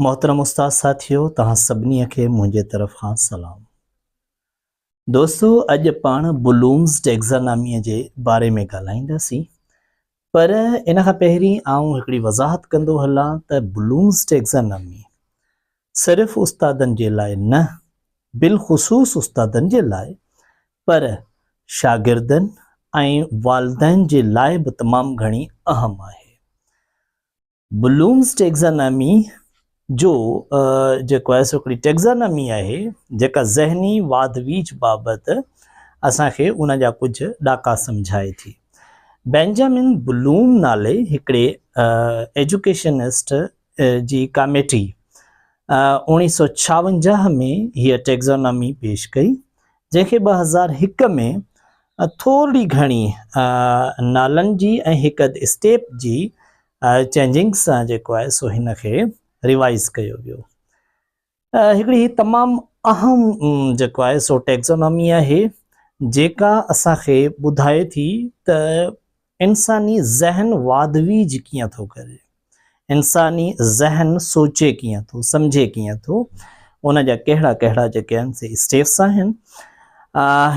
محترم استاد ساٿيو توهان سڀني کي منهنجي طرف کان سلام دوستو اڄ پاڻ بلومز ٽيگزانامي جي باري ۾ ڳالهائينداسين پر ان کان پهرين آئون هڪڙي وضاحت ڪندو هلان ته بلومز ٽيگزانامي صرف استادن جي لاء نه بالخصوص استادن جي لاء پر شاگردن ۽ والدين جي لاء به تمام گهڻي اهم آهي. بلومز ٽيگزانامي جو جيڪو آهي سو هڪڙي ٽيگزانامي آهي جيڪا ذهني واڌ ويجهه بابت اسان کي ان جا ڪجهه ڏاڪا سمجهائي ٿي. بينجامن بلوم نالي هڪڙي ايجوڪيشنسٽ جي ڪاميٽي اوڻيهه سؤ ڇاونجاهه ۾ هيء ٽيگزانامي پيش ڪئي، جنهن کي ٻه هزار هڪ ۾ ٿورڙي گهڻي نالن جي ۽ هڪ اڌ اسٽيپ جي چينجنگز سان جيڪو آهي سو هن کي ريوائيز ڪيو ويو. هڪڙي هي تمام اهم جيڪو آهي سو ٽيڪزونامي آهي جيڪا اسان کي ٻڌائي ٿي ته انساني ذهن واڌويج ڪيئن ٿو ڪري انساني ذهن سوچي ڪيئن ٿو سمجهي ڪيئن ٿو ان جا ڪهڙا ڪهڙا جيڪي آهن سي اسٽيپس آهن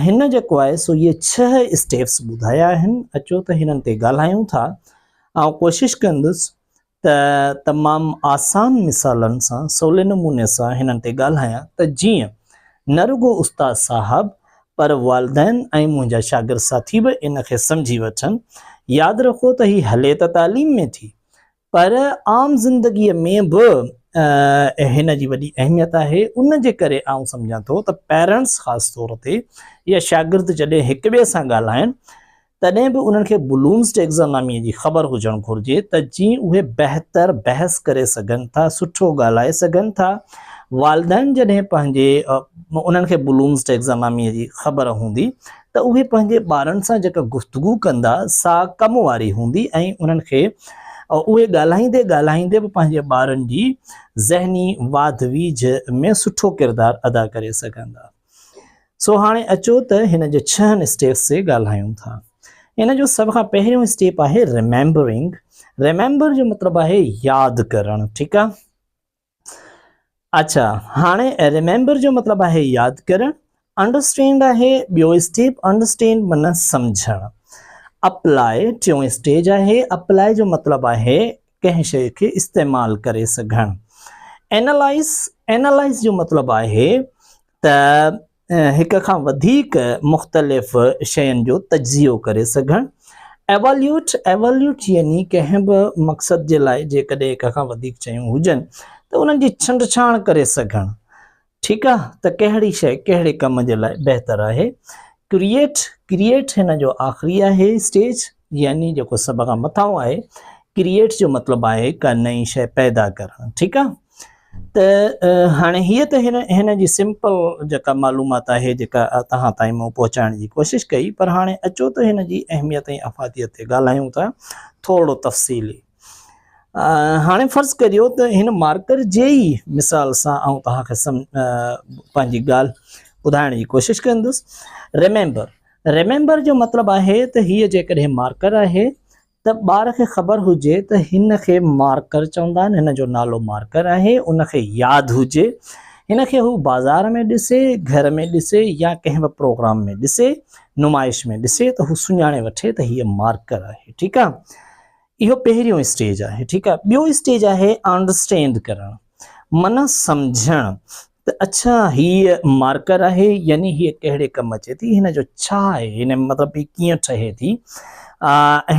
هن جيڪو آهي سو اهي ڇهه اسٽيپس ٻڌايا آهن اچو ته هنن تي ڳالهايون ٿا آئون ڪوشش ڪندس ته تمام آسان مثالن سان سولي نموني سان هنن تي ڳالهايان ته جيئن نه رڳو استاد صاحب پر والدين ۽ منهنجا شاگرد ساٿي به ان کي سمجهي وٺن. ياد رکو ته هي هلي ته تعليم ۾ ٿي پر عام زندگيء ۾ به هن جي وڏي اهميت آهي ان جي ڪري آئون سمجهان ٿو ته پيرنٽس خاص طور تي يا شاگرد جڏهن هڪٻئي سان ڳالهائن تڏهن به انهن کي بلومز ٽيڪزاناميء جي خبر هجڻ گهرجي ته جيئن اهي بهتر بحث ڪري سگهن ٿا، سٺو ڳالهائي سگهن ٿا. والدين جڏهن پنهنجي انهن کي بلومز ٽيڪزاناميء جي خبر هوندي ته اهي پنهنجي ٻارن سان جيڪا گفتگو ڪندا سا ڪم واري هوندي ۽ انهن کي اهي ڳالهائيندي ڳالهائيندي به پنهنجي ٻارن جي ذهني واڌ ويجهه ۾ سٺو ڪردار ادا ڪري سگهندا. سو هاڻي اچو ته هن جي ڇهن اسٽيپس تي ڳالهايون ٿا. ان جو سڀ کان پهريون اسٽيپ آهي ريميمبرنگ. ريميمبر جو مطلب آهي ياد ڪرڻ، ٺيڪ آ. اچا هاڻي ريميمبر جو مطلب آهي ياد ڪرڻ. انڊرسٽينڊ آهي ٻيو اسٽيپ، انڊرسٽينڊ معنيٰ سمجهڻ. اپلائي ٽيون اسٽيج آهي، اپلائي جو مطلب آهي ڪنهن شيء کي استعمال ڪري سگهڻ. Analyze، Analyze جو مطلب آهي ته هڪ کان وڌيڪ مختلف شين جو تجزيو ڪري سگهڻ. Evaluate، Evaluate يعني ڪنهن به مقصد جي لاء جيڪڏهن هڪ کان وڌيڪ شيون هجن ته انهن جي ڇنڊڇاڻ ڪري سگهڻ. ٺيڪ آ ته ڪهڙي شئي ڪهڙي ڪم جي لاء بهتر آهي. ڪريئيٽ، Create، هن جو آخري آهي اسٽيج يعني جيڪو سڀ کان مٿانهون آهي. ڪريئيٽ جو مطلب آهي ڪا نئين شئي پيدا ڪرڻ ٺيڪ آ ته هاڻي هيء ته هن هن جي سمپل جيڪا معلومات آهي جيڪا توهان تائين مون پهچائڻ جي ڪوشش ڪئي پر هاڻي اچو ته هن جي اهميت ۽ افاديت تي ڳالهايون ٿا ٿورڙو تفصيلي. هاڻي فرض ڪريو ته هن مارڪر جي ئي مثال سان آئون توهان کي پنهنجي ڳالهه ٻڌائڻ جي ڪوشش ڪندس ريميمبر ريميمبر جو مطلب آهي ته هيء جيڪڏهن مارڪر آهي ته ٻار کي خبر هجي ته هن کي مارڪر چوندا آهن هن جو نالو مارڪر آهي ان کي ياد هجي هن کي هو بازار ۾ ڏسي گهر ۾ ڏسي يا ڪنهن به پروگرام ۾ ڏسي نمائش ۾ ڏسي ته هو سڃاڻي وٺي ته هيء مارڪر آهي ٺيڪ آهي اهو پهريون اسٽيج آهي ٺيڪ آهي ٻيو اسٽيج آهي آنڊرسٽينڊ ڪرڻ معنيٰ سمجهڻ ته اڇا هي مارڪر آهي يعني هي ڪهڙي ڪم اچي ٿي هن جو ڇا آهي هن مطلب هي ڪيئن ٺهي ٿي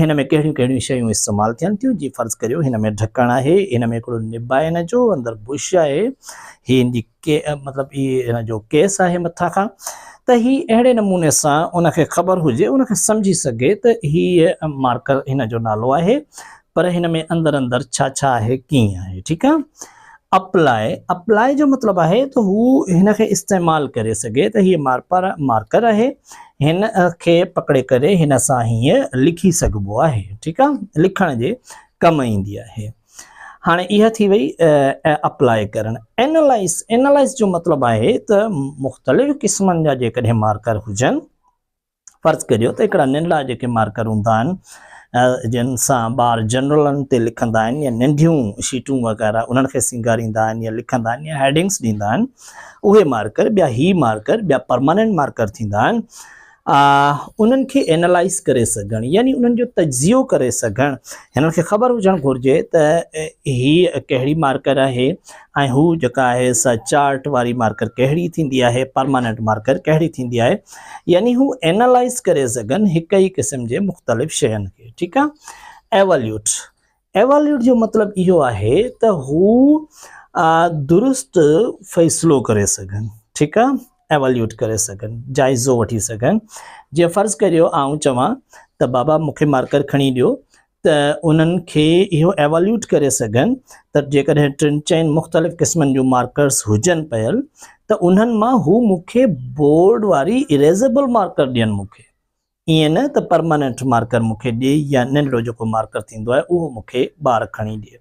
هن ۾ ڪهڙيون ڪهڙيون شيون استعمال ٿين ٿيون جي فرض ڪريو هن ۾ ڍڪڻ آهي هن ۾ هڪڙو نب آهي هن جو اندر بش آهي هي هن جي ڪي مطلب اي هن جو ڪيس آهي مٿا کان ته هي اهڙي نموني سان ان کي خبر هجي ان کي سمجهي سگهي ته هي مارڪر هن جو نالو آهي پر هن ۾ اندر اندر ڇا ڇا آهي ڪيئن آهي ٺيڪ آهي اپلاء اپلاء جو مطلب آهي ته هو هن کي استعمال ڪري سگهي ته هي مارپر مارڪر آهي هن کي پڪڙي ڪري هن سان هيئن لکي سگهبو آهي ٺيڪ آهي لکڻ جي ڪم ايندي آهي هاڻي اها ٿي وئي اپلاء ڪرڻ. اينالائيز، Analyze، جو مطلب آهي ته مختلف قسمن جا جيڪڏهن مارڪر هجن، فرض ڪريو ته هڪڙا ننڍڙا جيڪي مارڪر هوندا آهن جن سان ٻار جنرلن تي لکندا آهن يا ننڍيون شيٽون وغيره انهن کي سينگاريندا آهن يا لکندا آهن يا هيڊنگس ڏيندا آهن اهي مارڪر ٻيا هي مارڪر ٻيا پرماننٽ مارڪر ٿيندا آهن انهن کي اينالائز ڪري سگهڻ يعني انهن جو تجزيو ڪري سگهڻ هنن کي خبر هجڻ گهرجي ته هي ڪهڙي مارڪر آهي ۽ هو جيڪا آهي سا چارٽ واري مارڪر ڪهڙي ٿيندي آهي پرماننٽ مارڪر ڪهڙي ٿيندي آهي يعني هو اينالائز ڪري سگهن هڪ ئي قسم جي مختلف شين کي ٺيڪ آهي ايواليوٽ ايواليوٽ جو مطلب اهو آهي ته هو درست فيصلو ڪري سگهن ٺيڪ آ ايواليوٽ ڪري سگهن جائزو وٺي سگهن جي فرض ڪريو آئون چوان ته بابا مون کي مارڪر کڻي ڏيو ته انهن کي اهو ايواليوٽ ڪري سگهن ته جيڪڏهن ٽن چئن مختلف قسمن جون مارڪرس هجن پيل ته انهن مان هو مون کي بورڊ واري اريزيبل مارڪر ڏين مون کي ائين نه ته پرماننٽ مارڪر مون کي ڏئي يا ننڍڙو جيڪو مارڪر ٿيندو آهي اهو مون کي ٻار کڻي ڏئي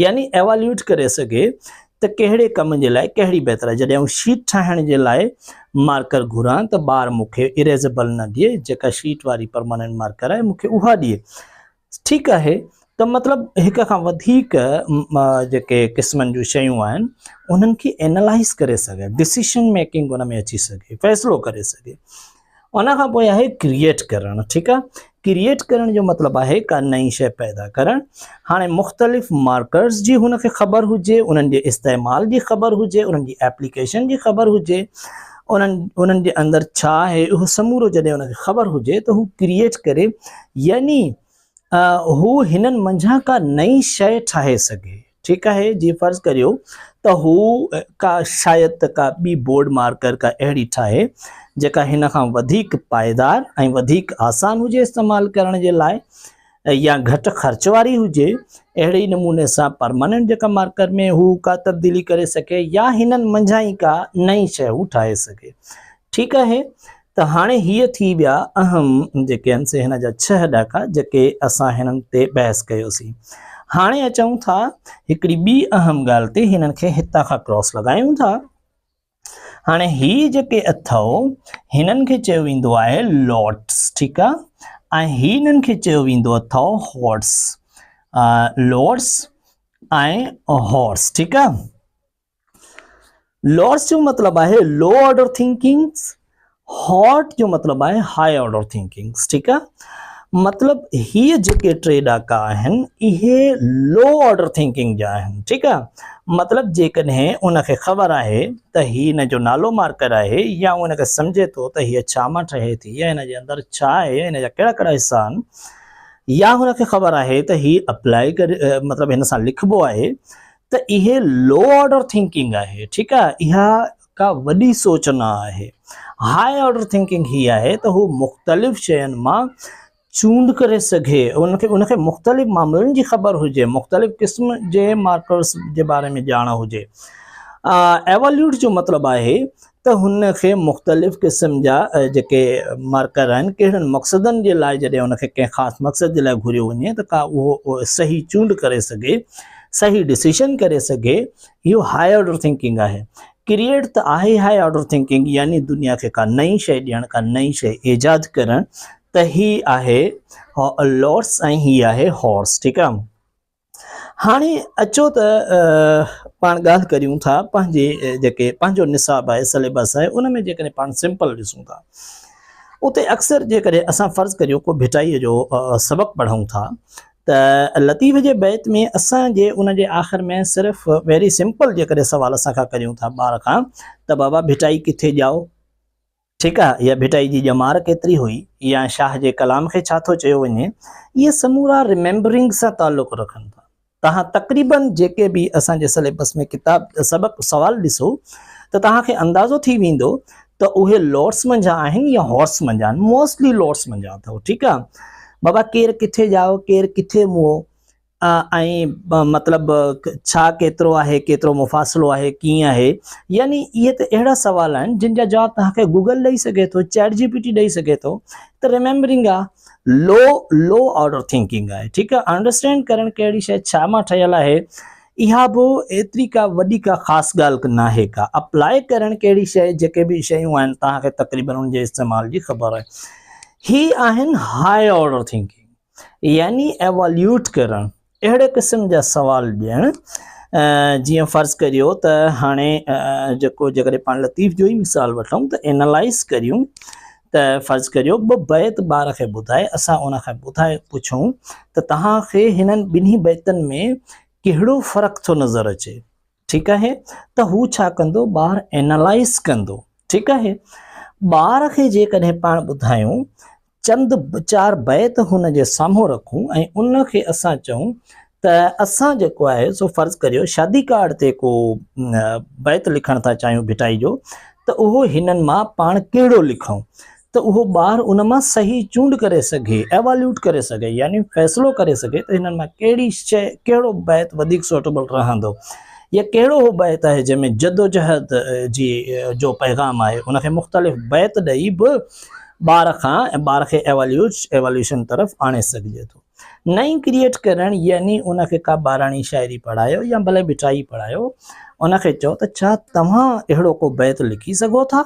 يعني ايواليوٽ ڪري سگهي ته ڪهڙي ڪم جي لاء ڪهڙي بهتر آهي جڏهن آئون شيٽ ٺاهڻ جي لاء مارڪر گهران ته ٻار مون کي اريزيبل نه ڏئي جيڪا شيٽ واري پرماننٽ مارڪر آهي مون کي اها ڏئي ٺيڪ آهي ته مطلب هڪ کان وڌيڪ جيڪي قسمن جون شيون آهن انهن کي اينالائز ڪري سگهي ڊسيشن ميڪنگ ان ۾ اچي سگهي فيصلو ڪري سگهي ان کان پوء آهي ڪريئيٽ ڪرڻ ٺيڪ آهي ڪريئيٽ ڪرڻ جو مطلب آهي ڪا نئين شيء پيدا ڪرڻ هاڻي مختلف مارڪرز جي هن کي خبر هجي انهن جي استعمال جي خبر هجي انهن جي ايپليڪيشن جي خبر هجي انهن انهن جي اندر ڇا آهي اهو سمورو جڏهن ان کي خبر هجي ته هو ڪريئيٽ ڪري يعني هو هنن منجهان ڪا نئين شيء ٺاهي سگهي ٺيڪ آهي جي فرض ڪريو ته هو ڪا شايد ته ڪا ٻي بورڊ مارڪر ڪا اهڙي ٺاهي جيڪا هن کان وڌيڪ پائيدار ۽ وڌيڪ آسان هجي استعمال ڪرڻ جي لاء يا گهٽ خرچ واري هجي، اهڙي ئي نموني سان پرماننٽ جيڪا مارڪر ۾ هو ڪا تبديلي ڪري سگهي يا هنن منجهان ئي ڪا نئين شيء هو ٺاهي سگهي. ٺيڪ آهي ته هاڻي هي ٿي ويا اهم جيڪي آهن سي هن جا ڇهه ڏاڪا جيڪي اسان هنن تي بحث ڪيوسين. هاڻي اچون ٿا هڪڙي ٻي اهم ڳالهه تي هنن کي هتان کان ڪراس لڳايون ٿا. هاڻي هي جيڪي اٿئو هنن کي چيو ويندو آهي لوٽس ٺيڪ آ ۽ هي هنن کي چيو ويندو اٿئو هورس لوٽس ۽ هورس ٺيڪ آ لوٽس جو مطلب آهي لو آرڊر ٿنڪنگس هاٽ جو مطلب آهي هاء آرڊر ٿنڪنگس ٺيڪ آ مطلب هي جيڪي ٽي ڏاڪا آهن اهي لو آرڊر ٿنڪنگ جا آهن ٺيڪ آ مطلب جيڪڏهن ان کي خبر آهي ته هي ان جو نالو مارڪر آهي يا ان کي سمجهي ٿو ته هي ڇا مان ٺهي ٿي يا ان جي اندر ڇا آهي ان جا ڪهڙا ڪهڙا حصا آهن يا هن کي خبر آهي ته هي اپلائي ڪري مطلب هن سان لکبو آهي ته اهي لو آرڊر ٿنڪنگ آهي ٺيڪ آ اها ڪا وڏي سوچ نه آهي. هاء آرڊر ٿنڪنگ هي آهي ته هو مختلف شين مان چونڊ ڪري سگهي، ان کي مختلف معاملن جي خبر هجي، مختلف قسم جي مارڪرز جي باري ۾ ڄاڻ هجي. ايواليوٽ جو مطلب آهي ته هن کي مختلف قسم جا جيڪي مارڪر آهن ڪهڙن مقصدن جي لاء جڏهن ان کي ڪنهن خاص مقصد جي لاء گهريو وڃي ته ڪا اهو صحيح چونڊ ڪري سگهي، صحيح ڊسيشن ڪري سگهي، اهو هاء آرڊر ٿنڪنگ آهي. ڪريئيٽ ته آهي هاء آرڊر ٿنڪنگ يعني دنيا کي ڪا نئين شيء ڏيڻ، ڪا نئين شيء ايجاد ڪرڻ ته هي آهي لارڊس ۽ هي آهي هارس ٺيڪ آ. هاڻي اچو ته پاڻ ڳالهه ڪريون ٿا پنهنجي جيڪي پنهنجو نصاب آهي سليبس آهي ان ۾ جيڪڏهن پاڻ سمپل ڏسون ٿا اتي اڪثر جيڪڏهن اسان فرض ڪريون ڪو ڀٽائيء جو سبق پڙهون ٿا ته لطيف جي بيت ۾ اسان جي ان جي آخر ۾ صرف ويري سمپل جيڪڏهن سوال اسان کان ڪريون ٿا ٻار کان ته بابا ڀٽائي ڪٿي ڄائو ٺيڪ آ يا ڀٽائي جي ڄمار ڪيتري هئي يا شاهه جي ڪلام کي ڇا ٿو چيو وڃي اهي سمورا رميمبرنگ سان تعلق رکن ٿا توهان تقريبا جيڪي به اسان جي سليبس ۾ ڪتاب سبق سوال ڏسو ته توهان کي اندازو ٿي ويندو ته اهي لوٽس منجهان آهن يا هارس منجهان آهن موسٽلي لوٽس منجهان اٿئو ٺيڪ آ بابا ڪير ڪٿي ڄائو ڪير ڪٿي موئو ۽ مطلب ڇا ڪيترو آهي ڪيترو مفاصلو آهي ڪيئن آهي يعني اهي ته اهڙا سوال آهن جن جا جواب توهان کي گوگل ڏئي سگهي ٿو چيٽ جي پي ٽي ڏئي سگهي ٿو ته ريميمبرنگ آ لو لو آرڊر ٿنڪنگ آهي ٺيڪ آ انڊرسٽينڊ ڪرڻ ڪهڙي شيء ڇا مان ٺهيل آهي اها به ايتري ڪا وڏي ڪا خاص ڳالهه ناهي ڪا اپلاء ڪرڻ ڪهڙي شيء جيڪي به شيون آهن توهان کي تقريبن ان جي استعمال جي خبر آهي هي آهن هاء آرڊر ٿنڪنگ يعني ايواليوٽ ڪرڻ اهڙي قسم جا سوال ڏيڻ جيئن فرض ڪريو ته هاڻي جيڪو جيڪڏهن پاڻ لطيف جو ئي مثال وٺون ته اينالائز ڪريون ته فرض ڪريو ٻه بيت ٻار کي ٻڌائي اسان ان کان ٻڌائي پڇون ته توهان کي هنن ٻنهي بيتن ۾ ڪهڙو فرق ٿو نظر اچي ٺيڪ آهي ته هو ڇا ڪندو ٻار اينالائز ڪندو ٺيڪ آهي ٻار کي جيڪڏهن پاڻ ٻڌايون چند چار بيت هن جي سامهون رکون ۽ ان کي اسان چئون ته اسان جيڪو آهي سو فرض ڪريو شادي ڪارڊ تي ڪو بيت لکڻ ٿا چاهيون ڀٽائي جو ته اهو هنن مان پاڻ ڪهڙو لکون ته اهو ٻار ان مان صحيح چونڊ ڪري سگهي ايواليوٽ ڪري سگهي يعني فيصلو ڪري سگهي ته هنن مان ڪهڙي شيء ڪهڙو بيت وڌيڪ سوٽيبل رهندو يا ڪهڙو اهو بيت آهي جنهن ۾ جدوجهد جي جو پيغام آهي ان کي مختلف بيت ڏئي به ٻار کان ٻار کي ايواليوش ايواليوشن طرف آڻي سگهجي ٿو نئين ڪريئيٽ ڪرڻ يعني ان کي ڪا ٻاراڻي شاعري پڙهايو يا ڀلي ٻيٽائي پڙهايو ان کي چئو ته ڇا توهان اهڙو ڪو بيت لکي سگهو ٿا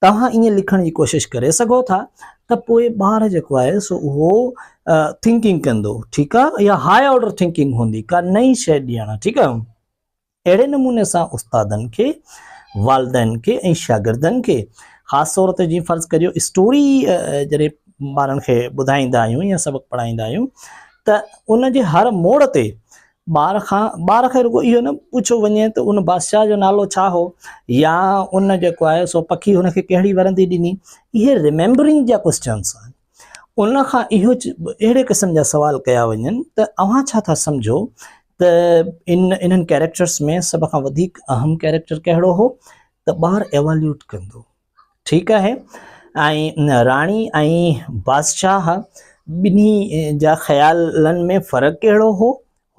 توهان ائين لکڻ جي ڪوشش ڪري سگهو ٿا ته پوء ٻار جيڪو آهي سو اهو ٿنڪنگ ڪندو ٺيڪ آهي يا هاء آرڊر ٿنڪنگ هوندي ڪا نئين شيء ڏيڻ ٺيڪ آهي اهڙي نموني سان استادن کي، والدين کي ۽ شاگردن کي خاص طور تي جيئن فرض ڪريو اسٽوري جڏهن ٻارن کي ٻڌائيندا آهيون يا سبق پڙهائيندا آهيون ته ان جي هر موڙ تي ٻار کان ٻار کي رڳو اهو نه پڇيو وڃي ته ان بادشاهه جو نالو ڇا هو يا ان جيڪو آهي سو پکي هن کي ڪهڙي ورندي ڏني اهي ريميمبرنگ جا ڪوشچنس آهن ان کان اهو اهڙي قسم جا سوال ڪيا وڃن ته اوهان ڇا ٿا سمجهو ته ان انهن ڪيريڪٽرس ۾ سڀ کان وڌيڪ اهم ڪيريڪٽر ڪهڙو هو ته ٻار ايواليوٽ ڪندو ٺيڪ آهي ۽ راڻي ۽ بادشاهه ٻنهي جا خيالن ۾ فرق ڪهڙو هو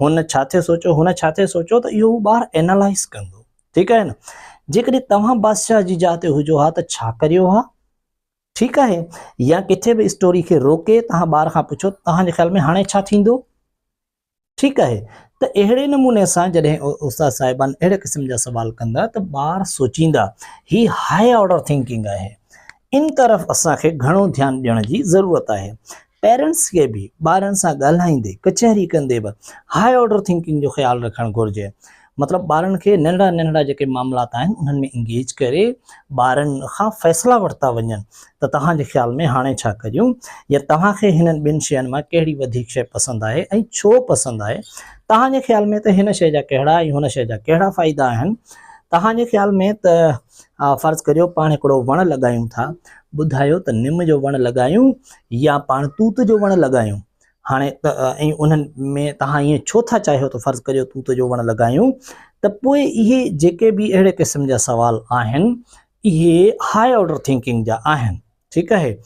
هن ڇا ٿي سوچيو هن ڇا ٿي سوچيو ته اهو ٻار اينالائز ڪندو ٺيڪ آهي نه جيڪڏهن توهان بادشاهه جي جاء تي هجو ها ته ڇا ڪريو ها ٺيڪ آهي يا ڪٿي به اسٽوري کي روڪي توهان ٻار کان پڇو توهان جي خيال ۾ هاڻي ڇا ٿيندو ٺيڪ آهي ته اهڙي نموني سان جڏهن استاد صاحبان اهڙي قسم جا سوال ڪندا ته ٻار سوچيندا هي هاء آرڊر ٿنڪنگ آهي ان طرف اسان کي گهڻو ڌيان ڏيڻ جي ضرورت آهي پيرنٽس کي به ٻارن سان ڳالهائيندي ڪچهري ڪندي به هاء آرڊر ٿنڪنگ جو خيال رکڻ گهرجي مطلب ٻارن کي ننڍڙا ننڍڙا جيڪي معاملات آهن انهن ۾ انگيج ڪري ٻارن کان فيصلا ورتا وڃن ته توهان جي خيال ۾ هاڻي ڇا ڪريون يا توهان کي هنن ٻن شين مان ڪهڙي وڌيڪ شي پسند آهي ۽ ڇو پسند آهي توهان جي خيال ۾ ته هن شي جا ڪهڙا ۽ هن شي جا ڪهڙا فائدا آهن توهان جي خيال ۾ ته آء فرض ڪريو پاڻ هڪڙو وڻ لڳايون ٿا، ٻڌايو ته نم جو وڻ لڳايون يا پاڻ توت جو وڻ لڳايون؟ هاڻي ته ۽ انهن ۾ توهان ائين ڇو ٿا چاهيو ته فرض ڪريو توت جو وڻ لڳايون؟ ته پوء اهي جيڪي به اهڙي قسم جا سوال آهن اهي هاء آرڊر ٿنڪنگ جا آهن. ٺيڪ آهي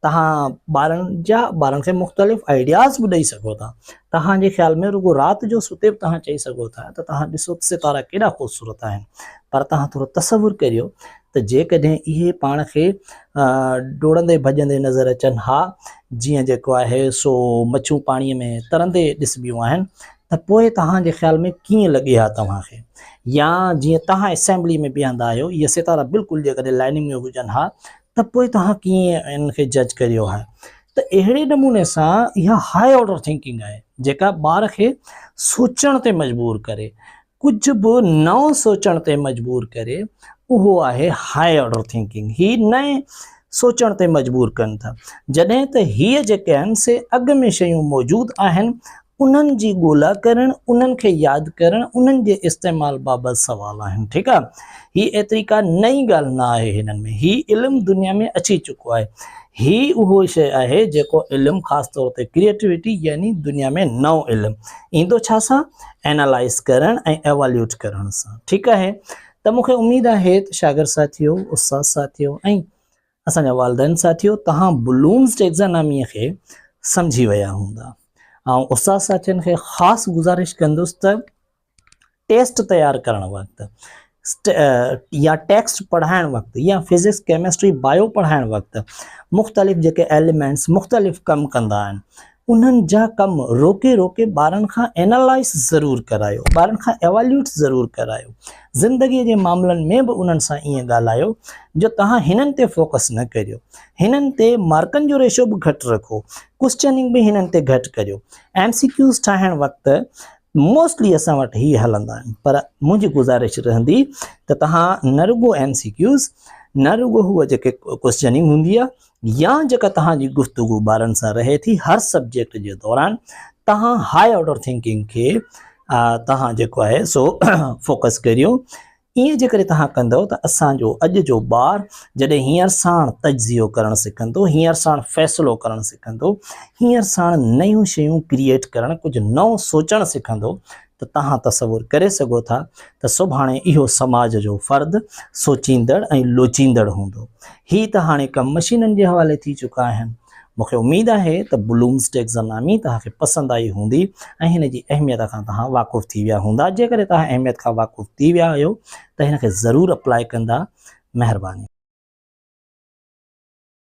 توهان ٻارن جا ٻارن کي مختلف آئيڊياز به ڏئي سگهو ٿا توهان جي خيال ۾ رڳو رات جو ستي به توهان چئي سگهو ٿا ته توهان ڏسو ته ستارا ڪيڏا خوبصورت آهن پر توهان ٿورو تصور ڪريو ته جيڪڏهن اهي پاڻ کي ڊوڙندي ڀڄندي نظر اچن ها جيئن جيڪو آهي سو مڇون پاڻي ۾ ترندي ڏسبيون آهن ته پوء توهان جي خيال ۾ ڪيئن لڳي ها توهان کي يا جيئن توهان اسيمبلي ۾ بيهندا آهيو اهي ستارا بلڪل جيڪڏهن لائننگ ۾ هجن ها ته پوء توهان ڪيئن ان کي جج ڪريو ها ته اهڙي نموني سان اها هاء آرڊر ٿنڪنگ آهي جيڪا ٻار کي سوچڻ تي مجبور ڪري ڪجهه به نئون سوچڻ تي مجبور ڪري اهو آهي هاء آرڊر ٿنڪنگ هي نئين سوچڻ تي مجبور ڪن ٿا جڏهن ته هي جيڪي آهن سي اڳ ۾ شيون موجود آهن انهن جي ڳولا ڪرڻ، انهن کي ياد ڪرڻ، انهن جي استعمال بابت سوال آهن. ٺيڪ آ. هي ايتري ڪا نئين ڳالهه نه آهي هنن ۾. هي علم دنيا ۾ اچي چڪو آهي. هي اهو شيء آهي جيڪو علم خاص طور تي ڪريئيٽوٽي يعني دنيا ۾ نئون علم ايندو ڇا سان؟ اينالائيز ڪرڻ ۽ ايواليوٽ ڪرڻ سان. ٺيڪ آهي ته مون کي اميد آهي ته شاگرد ساٿيو، استاد ساٿيو ۽ اسان جا والدين ساٿيو توهان بلومز ٽيڪزاناميء کي سمجهي ويا هوندا. آئون استاد ساٿين کي خاص گذارش ڪندس ته ٽيسٽ تيار ڪرڻ وقت يا ٽيڪسٽ پڙهائڻ وقت يا فزڪس ڪيمسٽري بايو پڙهائڻ وقت مختلف جيڪي ايليمينٽس مختلف ڪم ڪندا آهن انهن جا ڪم روڪي روڪي ٻارن کان اينالائيز ضرور ڪرايو، ٻارن کان ايواليوٽ ضرور ڪرايو. زندگيء جي معاملن ۾ به انهن سان ائين ڳالهايو جو توهان هنن تي فوڪس نه ڪريو. هنن تي مارڪن جو ريشو به گهٽ رکو. ڪوسچننگ به هنن تي گهٽ ڪريو. ايم سي ڪيوز ٺاهڻ وقت موسٽلي اسان وٽ هي هلندا آهن پر منهنجي گذارش رهندي ته توهان نه رڳو ايم سي ڪيوز نه رڳو هوء جيڪي ڪوسچننگ هوندي آهي، يا جيڪا توهان جي گفتگو ٻارن سان رهي ٿي هر سبجيڪٽ جي دوران توهان هاء آرڊر ٿنڪنگ کي توهان جيڪو آهي سو فوڪس ڪريو ائين جيڪڏهن توهان ڪندو ته اسان جو اڄ جو ٻار جڏهن هينئر ساڻ تجزيو ڪرڻ سکندو هينئر ساڻ فيصلو ڪرڻ سکندو هينئر ساڻ نيون شيون ڪريئيٽ ڪرڻ ڪجهه نئون سوچڻ سکندو ته توهان تصور ڪري سگهو ٿا ته سڀاڻي اهو سماج جو فرد سوچيندڙ ۽ لوچيندڙ هوندو. هي ته هاڻي ڪم مشينن جي حوالي ٿي چڪا آهن. مون کي اميد آهي ته بلومز ٽيڪزانامي توهان کي پسند آئي هوندي ۽ هن جي اهميت کان توهان واقف ٿي ويا هوندا. جيڪڏهن توهان اهميت کان واقف ٿي ويا آهيو ته هن کي ضرور اپلائي ڪندا. مهرباني.